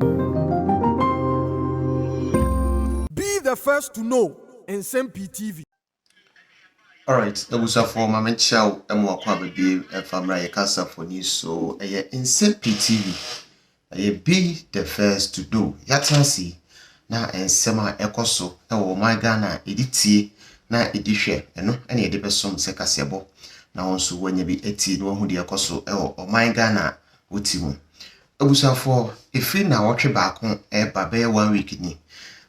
Be the first to know Nsɛm Pii TV. Alright abusuafoɔ ma menkyea wo ɛmo akɔ aba biem ɛfa mmerɛ a yɛ kasa foni so ɛyɛ nsɛm pii TV ɛyɛ be the first to do yatenase yi na nsɛm a ɛkɔ so ɛwɔ ɔman Ghana a yɛde tie na yɛde hwɛ ɛno ɛna yɛde bɛsom sɛ kaseɛbɔ na wo nso wanya bi atie na wahu deɛ ɛkɔ so ɛwɔ ɔman Ghana a wote mu Abusuafoɔ, ɛfiri nnawɔtwe baako reba bɛyɛ one week ni,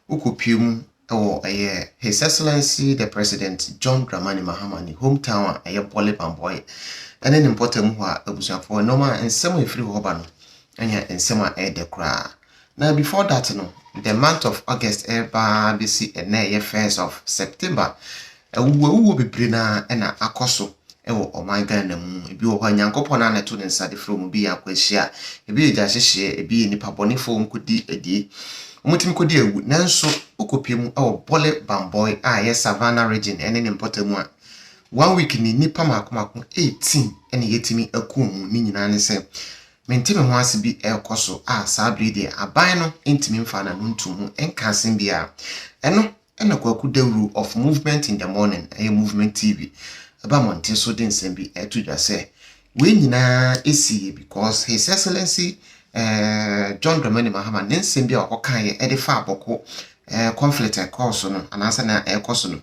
wokɔpue mu wɔ ɛyɛ His Excellency the President John Dramani Mahama ne home town a ɛyɛ Bole Bambɔe ɛne ne mpɔtam hɔ a, abusuafoɔ, nnoɔma a nsɛm a ɛfiri hɔ ba no ɛyɛ nsɛm a ɛyɛ dɛ koraa. Na before that no, the month of August ɛreba ara bɛsi ɛnnɛ a ɛyɛ first of September, Awuwuawuo bebree no ara na akɔ so wɔ ɔman Ghana mu. Ebi wɔ hɔ a, Nyankopɔn no ara na ɛto ne nsa de frɛ wɔn. Ebi yɛ akwanhyia, ebi yɛ gyahyehyeɛ, ebi yɛ nnipa bɔnefoɔ a wɔkɔdi adie. Wɔtumi kɔdi awu. Nanso wokɔpue mu wɔ Bole Bamboi a ɛyɛ Savannah Region ne ne mpɔtam a, one week ni nnipa mmaako mmaako eighteen na yɛatumi aku wɔn. Ne nyinaa ne sɛ, mente me ho ase bi rekɔ so a saa berɛ yi deɛ aban no ntumi mfaa n'ano ntoo mu nkaa asɛm biara. Ɛno Ɛna Kwaku Dawuru of Movement in the Morning, ɛyɛ Movement TV, ɛba mmɔnten so de nsɛm bi ɛto dwa sɛ wei nyinaa ɛsiiɛ because His Excellency John Dramani Mahama ne nsɛm bi a ɔkɔ kaeɛ ɛde faa Bɔko conflict ɛkɔɔ so no anaasɛ na ɛkɔ so no,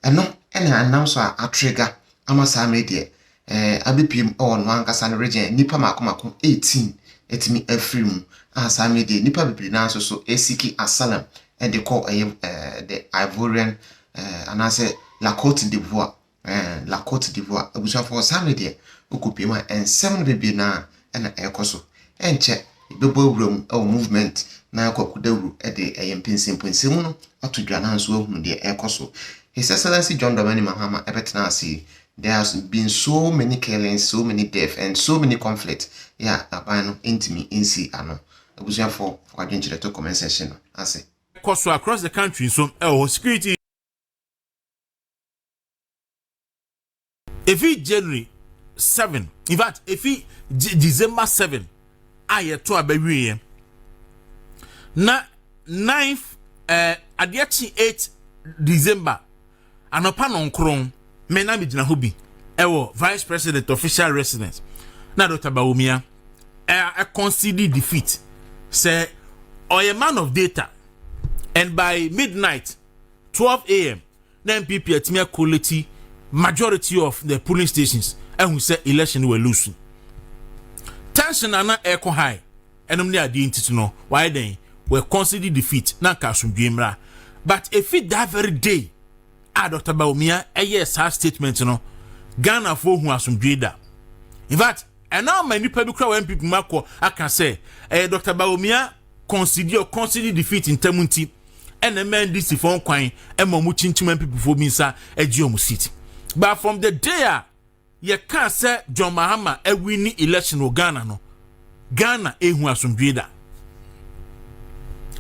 ɛno ɛna ɛnam so a atrigger ama saa mmerɛ deɛ eh, abɛpuem wɔ ɔno ankasa no regyen nnipa mako mako 18 atumi afiri mu, a saa mmerɛ deɛ nnipa bebree no ara nso so resiki asylum de kɔ ɛyɛ eh, the Ivorian eh, anaasɛ La Cote d'Ivoire, eh, La Cote d'Ivoire abusuafoɔ saa mmerɛ deɛ wokɔpuem a nsɛm no bebree no ara na ɛrekɔ so. Ɛnkyɛ yɛbɛbɔ awura mu wɔ movement na Kwaku Dawuru de ɛyɛ mpɛnsɛmpɔnsɛmu no ato dwa na nso ahunu deɛ ɛrekɔ so. His Excellency John Dramani Mahama ɛbɛtena ase yi, there has been so many killings, so many death and so many conflict yɛ a aban no ntumi nsi ano. Abusuafoɔ fa w'adwenkyerɛ to comment section no ase. Kɔ so across the country nso ɛwɔ hɔ, security. efi january seven in fact efi december seven a yɛto a bɛwieɛ na ninth ɛɛ eh, adeɛ kye eight december anɔpa nɔnkron mɛ na mi gyina hɔ bi ɛwɔ vice president official residence na dr bawumia ɛɛ ɛkɔnsidi defeat sɛ ɔyɛ man of data and by midnight twelve a.m. Na NPP atumi a collate majority of the polling stations ahu sɛ election wɔ lose. Tension a na ɛkɔ high ɛnom ne adeɛ nti so no wɔayɛ dɛn wɔ concede defeat na nka asomdwe mmra. But efi that very day a Dr. Bawumia ɛyɛ saa statement no Ghanafoɔ hu asomdwe da. In fact Ɛno ama nnipa bi koraa wɔ NPP mu akɔ aka sɛ ɛyɛ Dɔkta Bawumia kɔnsidi or kɔnsidi defeat ntam nti ɛna ɛma NDC fo nkwan ɛma wɔn kyinkyim NPP fo bi nsa agye wɔn seat. But from the day a yɛka sɛ John Mahama awini election wɔ Ghana no, Ghana ehu asomdwee da.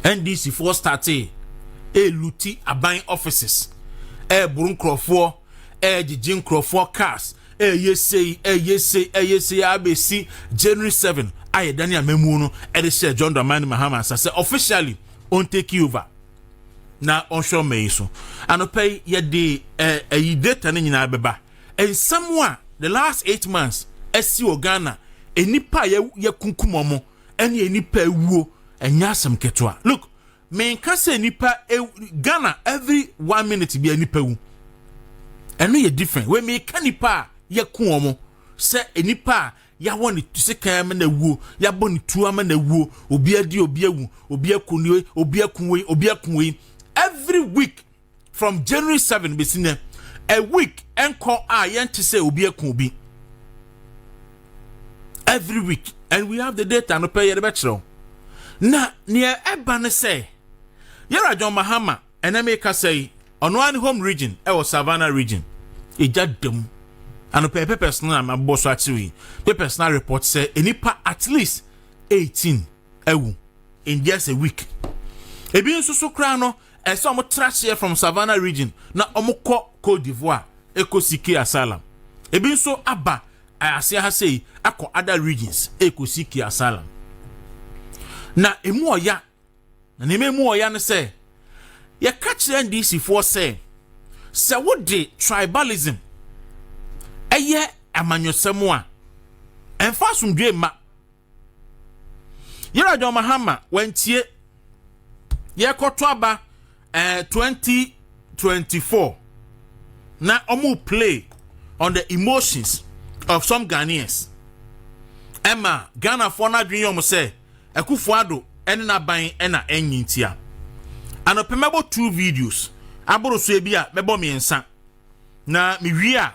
NDC foɔ startee eluti aban offices ɛɛboro nkurɔfoɔ ɛregyegye nkurɔfoɔ cars ɛyɛ sei ɛyɛ sei ɛyɛ sei abɛsi january 7 a yɛdane amamuo no ɛde hyɛ john dramani mahama nsa sɛ officially ɔntake over na ɔnhwɛ ɔma yi so anɔpɛ yi yɛde ɛyi data no nyinaa bɛba nsɛm a the last eight months asi wɔ ghana nnipa a yɛkunkum ɔmo ɛne nnipa awuo ɛnyɛ asɛm ketewa look Menka sɛ nipa Ghana every one minute bia nipa wu. Ɛno yɛ different. Wei meka nipa a yɛko wɔn sɛ nipa a yɛawɔ ne sekan ama na wuo, yɛabɔ ne tuo ama na wuo, obi adi, obi awu, obi ako ne obi ako wei, obi ako wei. Every week from january seven bɛsi nɛ a week ɛnkɔ a yɛnte sɛ obi ako obi every week and we have the data no pɛ yɛde bɛkyerɛw na neɛ ɛba ne sɛ yɛra john mahama ɛnɛ meka sɛ yi ɔno ara ne home region ɛwɔ savannah region ɛgya dam ano pɛ papers no a mabɔ so akyerɛ yi papers no report sɛ nnipa at least 18 awu in just a week ebi nso so koraa no Ɛsɛ sɛ wɔtra hyeɛ from Savannah region na wɔkɔ Cote d'Ivoire ɛkɔsi Key Asylum. Ebi nso aba aseɛ ha sei akɔ other regions ɛkɔsi Key Asylum. Na ɛmu ɔya, na nneɛma ɛmu ɔya no sɛ yɛka kyerɛ NDCfoɔ sɛ sɛ wode tribalism ɛyɛ amanyɔsɛm a ɛmfa asomdwoe mma. yɛrɛ john mahama wantie yɛkɔto aba ɛɛ eh, twenty twenty four na wɔn play on the emotions of some ghanaians ɛma ghanafoɔ no adwene yɛ wɔn sɛ akufo ado ɛne n'aban ɛna ɛnyi ntia anɔpɛ mɛbɔ two videos aboro so ebi a mɛbɔ mmiɛnsa na mewie a.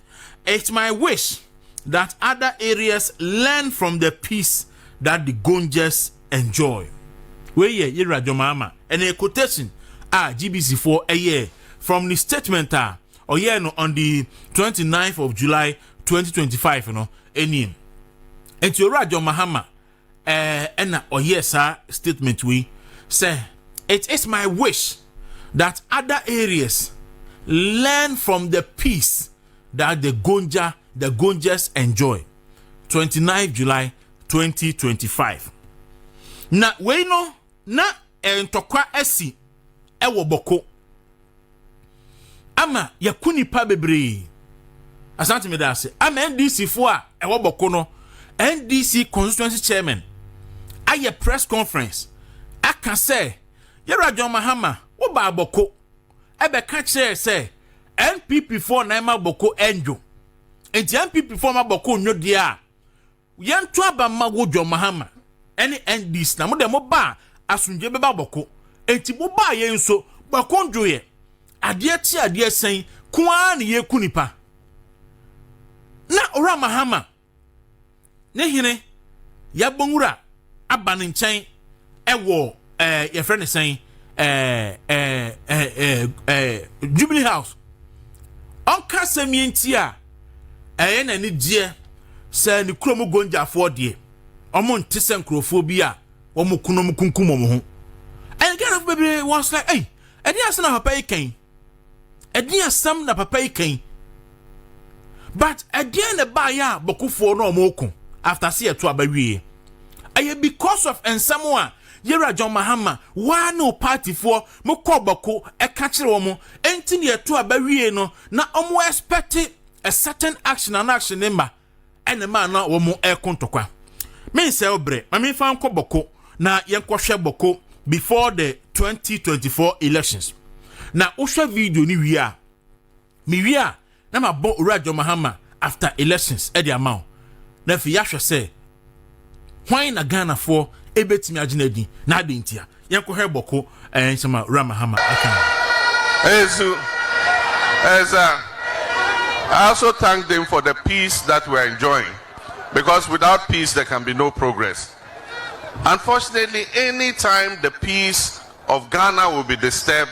It's my wish that other areas learn from the peace that the Gonjas enjoy. Wei yɛ Yera Jomama ɛna yɛ quotation a GBC foɔ ɛyɛ from the statement a ɔyɛɛ no on the 29th of July 2025 no ɛnim. Nti Owura John Mahama eh, ɛna ɔyɛɛ saa statement wei sɛ it is my wish that other areas learn from the peace that the gonja the gonjas enjoy 29 july 2025 na wei no na eh, ntɔkwa asi ɛwɔ bɔko ama yɛko nipa bebree asante meda ase ama ndc fo a ɛwɔ bɔko no ndc constituency chairman ayɛ press conference aka sɛ yɛwura john mahama woba abɔko ɛbɛka kyerɛ sɛ npp foɔ na ɛma bɔko ɛndwo nti npp foɔ ma bɔko nnwo deɛ a Yɛnto aba mma wo John Mahama ne NDC na mo deɛ mo baa asomdwe bɛba bɔko enti mo baa yɛn nso bɔko dwoeɛ adeɛ kye adeɛ sɛn ko ara ne yɛku nipa na owura Mahama ne hene yɛbɔ nwura aba ne nkyɛn wɔ ɛɛ yɛfrɛ ne sɛn ɛɛ ɛɛ ɛɛ ɛɛ jubilee house ɔnka asɛm yɛn nti a ɛyɛ n'ani gyeɛ sɛ ne kurom gonjafoɔ deɛ wɔn nte sɛ nkurɔfoɔ bi a wɔn kunum kunkum wɔn ho ɛyɛ ghana fo bebree wɔn sɛ ɛyi ɛde asɛn na papa yi kɛn. ɛdeɛn asɛm na papa yi kan but ɛdeɛn na ɛbaeɛ a bɔkofoɔ na wɔn ko after se ɛto aba wie ɛyɛ because of nsɛm a yɛwura john mahama waa ne paatifoɔ mo kɔ bɔko ɛka kyerɛ wɔn ɛnti na ɛto aba wie no na wɔn expect a certain action and action ne mma ɛna maa na wɔn ɛko ntɔkwa mensɛ wo berɛ ma memfa nkɔ bɔko na yɛnkɔhwɛ bɔko before the 2024 elections na wohwɛ video no wie a mewie a na mabɔ owura John Mahama after elections ɛde ama wo na afei yɛahwɛ sɛ hwan na ghanafoɔ ɛbɛtumi agye no adi na adɛn ntia yɛnkɔhwɛ bɔko ɛɛ nsɛm a wura mahama aka ɛsu ɛsa I also thank them for the peace that we are enjoying because without peace there can be no progress unfortunately anytime the peace of Ghana will be disturbed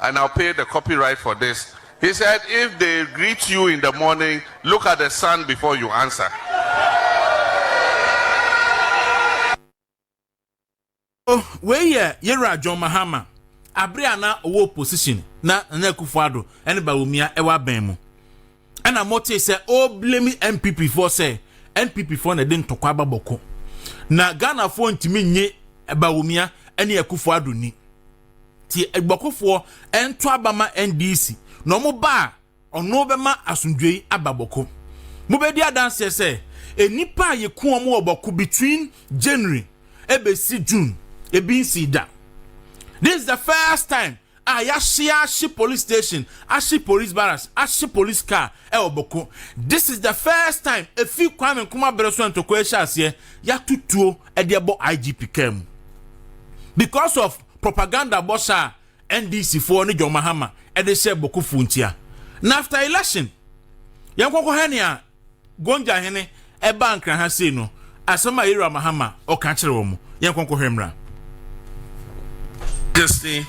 and I'll pay the copyright for this, he said if they greet you in the morning look at the sun before you answer. Wei yɛ Yera John Mahama abere a na ɔwɔ opposition na Nana Akufo-Addo ne Bawumia wɔ abɛn mu. ɛna motee sɛ ɔreblame npp foɔ sɛ npp foɔ na ɛde ntɔkwa aba bɔko na ghanafoɔ ntumi nye bawumia ɛne akufo ado ni ti bɔkofoɔ ɛnto aba ma ndc na ɔmo ba a ɔno bɛma asomdwei aba bɔko mobɛdi adanseɛ sɛ nnipa a yɛku wɔn wɔ bɔko between january ɛbɛsi june ebi nsi da this is the first time a yɛasoa ahye police station, ahye police barracks, ahye police car wɔ Boko. This is the first time efi Kwame Nkrumah bere so a ntɔkwa yi hyɛ aseɛ, yɛato tuo de abɔ IGP car mu because of propaganda bɔhyɛ a NDC foɔ ne John Mahama de hyɛɛ Bokofoɔ ntia. Na after election, yɛnkɔkɔhwɛ nea Gonja hene ɛbaa Nkran ha sei no, asɛm a Yero Amahama ɔka kyerɛ wɔn. Yɛnkɔ nkɔhwɛ mmra. Destiny,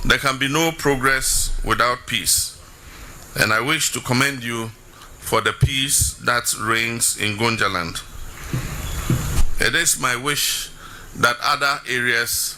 there can be no progress without peace and I wish to commend you for the peace that reigns in Gonjaland. It is my wish that other areas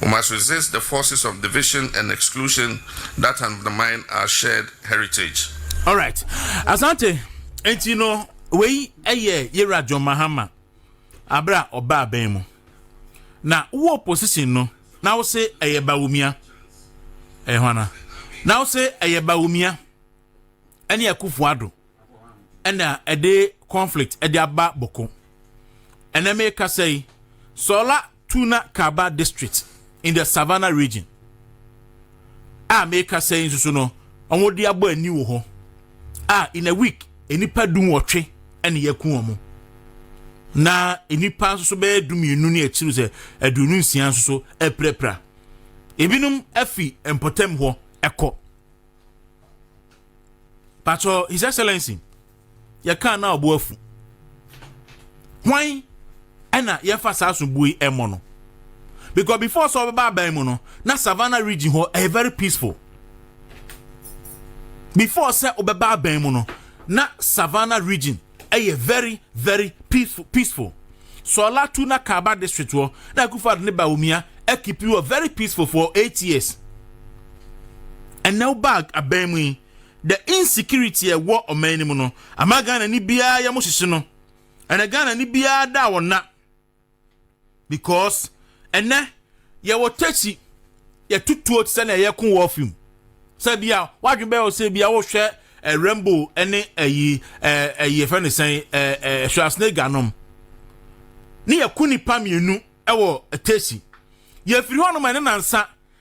We must resist the forces of division and exclusion that undermine our shared heritage. All right. Asante, enti no, wei ɛyɛ yɛwura John Mahama abere a ɔba abɛn mu. Na wo opposition no, na wo se ɛyɛ Bawumia. Ɛyɛ hwana? Na wo se ɛyɛ Bawumia ɛne Akufo Addo ɛna ɛde conflict ɛde aba bɔko. Ɛnɛ meka sɛ yi, sɔla Tuna Kaba District in the Savannah Region a merekasa yi nso so no, wɔde abɔ ani wɔ hɔ a in a week nnipa du nwɔtwe ne yɛku wɔn na nnipa nso so bɛyɛ du mmienu ne akyiri sɛ aduonu nsia nso so apirapira ebinom afi mpɔtam hɔ ɛkɔ patro his excellency yɛkaa no a ɔbo afu hwan ɛna yɛmfa saa sobuo yi ɛmmɔ no because before sɛ ɔbɛba aban mu no na savannah region hɔ ɛyɛ very peaceful before sɛ ɔbɛba aban mu no na savannah region ɛyɛ very very peaceful peaceful sɔla tu na kaba district hɔ na akufo ne baomia ɛkipi wɔ very peaceful for eight years ɛnna ɔba aban mu yi. The insecurity a ɛwɔ ɔman no mu no ama Ghana ni biara yɛ mo hyehye no. Ɛnɛ Ghana ni biara da wɔ na because ɛnɛ yɛwɔ takyi yɛtutuo te sɛ na ɛyɛ ko wɔ film sɛ bi a wadwe bɛyɛ ɔsɛ bi a wohwɛ eh, rainbow ɛne ɛyi ɛyi ɛfɛ ne sɛn ɛɛ Schwarzenegger nom ne yɛko nipa mmienu ɛwɔ takyi yɛfiri hɔ nom ɛne nansa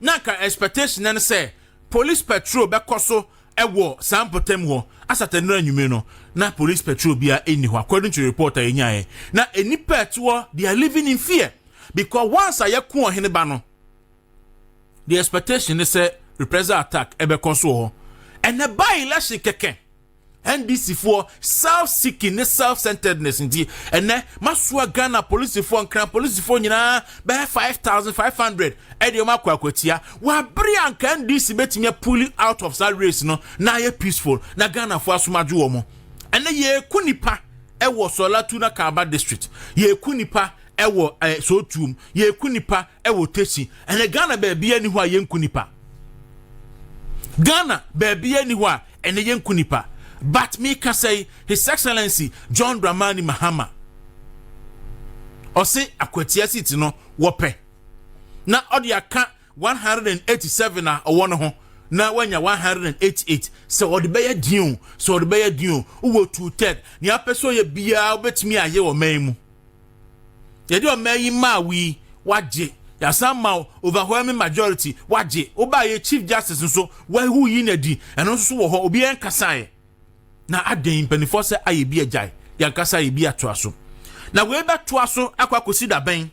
na anka expectation no ne sɛ police patrol bɛkɔ so wɔ saa mpɔtam hɔ asata nnura anwumere no na police patrol bia ɛnni hɔ according to the report a yɛnyaeɛ na nnipa ɛte hɔ they are living in fear because once a yɛko ɔhene ba no the expectation ne sɛ reprisal attack ɛbɛkɔ so wɔ hɔ ɛnɛ by election kɛkɛ ndcfoɔ self seeking ne self centeredness nti ɛnɛ masoa ghana polisifoɔ nkran polisifoɔ nyinaa bɛyɛ 5500 ɛde wɔn akɔ akwatia wɔabere anka ndc bɛtumi apuli out of saa race no na ayɛ peaceful na ghanafoɔ asomadwo wɔ mo ɛnɛ yɛku nipa ɛwɔ sɔlatu na kaaba district yɛku nipa ɛwɔ eh, sotuom yɛku nipa Ɛwɔ tesi ɛnɛ Ghana baabiara ni hɔ a yɛnku nipa. Ghana baabiara ni hɔ a ɛnɛ yɛnku nipa. But me kasa yi His Excellency John Dramani Mahama ɔse akwatia seat no wɔpɛ na ɔde aka 187 a ɔwɔ no ho na wanya 188 sɛ ɔde bɛyɛ deal sɛ ɔde bɛyɛ deal wɔ two third nea apɛ sɛ ɔyɛ biara wobɛtumi ayɛ wɔ man mu. yɛde ɔma yi maa wo yi wagye yɛasan ma overwhelming majority wagye woba yɛ chief justice nso wahu yi na di ɛno nso wɔ hɔ obiara nkasaeɛ na adɛn mpanimfoɔ sɛ ayɛ bi agyae yɛnkasa yɛ bi atoa so na wei bɛtoa so akɔ akɔsi dabɛn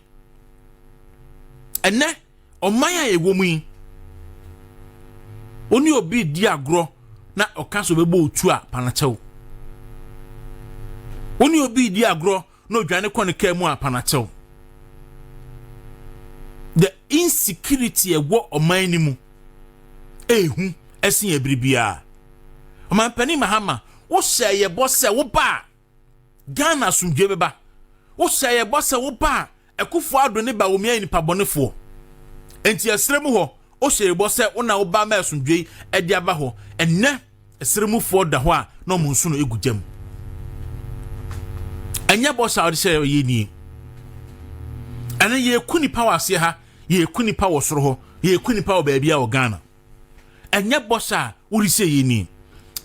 ɛnɛ Ɔman a yɛwɔ mu yi, wo ne obi redi agorɔ na ɔka sɛ ɔbɛbɔ otu a panakyɛw. Wo ne obi redi agorɔ na odwane kɔ ne kaa mu a panakyɛw. The insecurity ɛwɔ ɔman no mu ehu ɛsen ɛbiri biara. Ɔmanpanin Mahama, wohyɛ yɛ bɔ sɛ wo ba a Ghana asomdwoe bɛba. Wohyɛ yɛ bɔ sɛ woba a ɛkofo ado ne ba wɔmi ayɛ nipa bɔnefoɔ. Enti ɛsere mu hɔ wohyɛ yɛ bɔ sɛ wo na woba ma asomdwoe ɛde aba hɔ. Ɛnɛ ɛsere mufoɔ da hɔ a na ɔmo nso no egu gyam. Ɛnyɛ bɔ sɛ a wɔde hyɛ yɛ nie. Ɛnɛ yɛku nipa wɔ aseɛ ha, yɛku nipa wɔ soro hɔ, yɛku nipa wɔ baabi a wɔ Ghana. ɛnyɛ bɔs a wode sɛ yɛ ni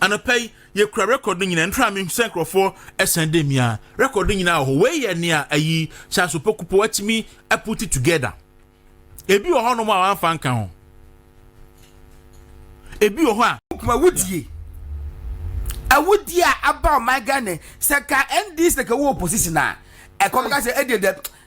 anɔpa yi yɛkura record no nyinaa ntra me sɛ nkurɔfoɔ ɛsɛn dɛ mi a record no nyinaa wɔ hɔ wei yɛ nea ayi charles opokupo atumi aputi together ebi wɔ hɔnom a wɔamfa nka ho ebi wɔ hɔ a kuma wodie awudie a aba ɔman ghana sɛ ka ndc ka wɔ opposition a ɛkɔ ka sɛ ɛdeɛ dɛ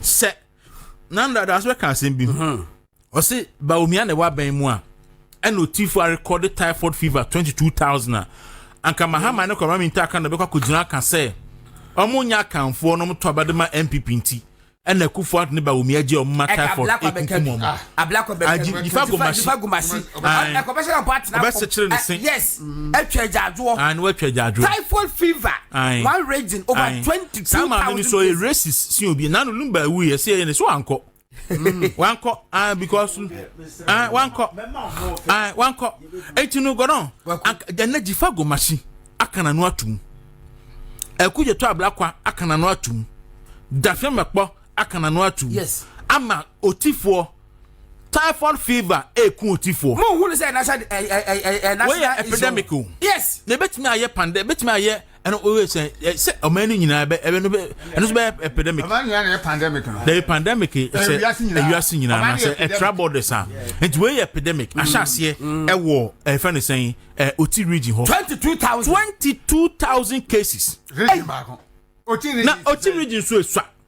sɛ nandra daase bɛka asɛm bi hmm. ɔse baomia na ɛwɔ abɛn mu a ɛna otifo arekɔde typhoid fever twenty two thousand a anka mahama ne kɔma minta aka na ɔbɛkɔ akɔgyina aka sɛ ɔmo nya akanfoɔ na ɔmo to abɛde ma npp nti ɛna akufo ato ne baomi agye ɔmo ma typhoid ekunkum ɔmo agye nifa gomasi ɔbɛsɛ kyerɛ ne se. atwa agyaadwoɔ. Aane watwa agyaadwoɔ. Typhoid fever. Aane. One region over Aane. twenty two thousand. Saa maame no so yɛ racist si obi nanu num ba ewu yɛ si yɛ ne so ankɔ. Mm. wankɔ ah because ah wankɔ ah wankɔ eti no gɔdɔn ɛnna jifa gomasi akana no atum ɛku yɛ tɔ ablakwa akana no atum dafɛn mɛkpɔ akana no atum ama otifoɔ. typhoid fever eku otifoɔ. mo hu ne sɛ national ɛ ɛ ɛ ɛ national wɔyɛ epidemic o yes na ebetumi ayɛ pandemic ebetumi ayɛ ɛno wɔyɛ sɛ ɛ sɛ ɔman no nyinaa ɛbɛ ɛbɛ no bɛ ɛno nso bɛyɛ epidemic ɔman nyinaa na yɛ pandemic no dɛbi pandemic sɛ ewiase nyinaa na sɛ ɛtra borders a nti wɔyɛ epidemic mm. ahyɛ aseɛ mm. ɛwɔ ɛfɛ ne sɛn ɛ oti region hɔ twenty two thousand twenty two thousand cases region baako oti region na oti region nso esua.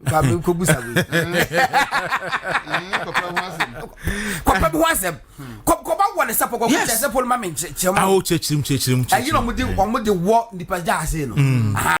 ba mi ko busa mi. kɔpɛ bi ho asɛm kɔba wɔ ne sɛpɔ kɔkɔ kyɛ sɛpɔ ma mi nkyɛn mu. awo kyɛ kyirim kyɛ kyirim kyɛ kyirim. ɛyi na ɔmo de ɔmo de wɔ nipa gya ase no.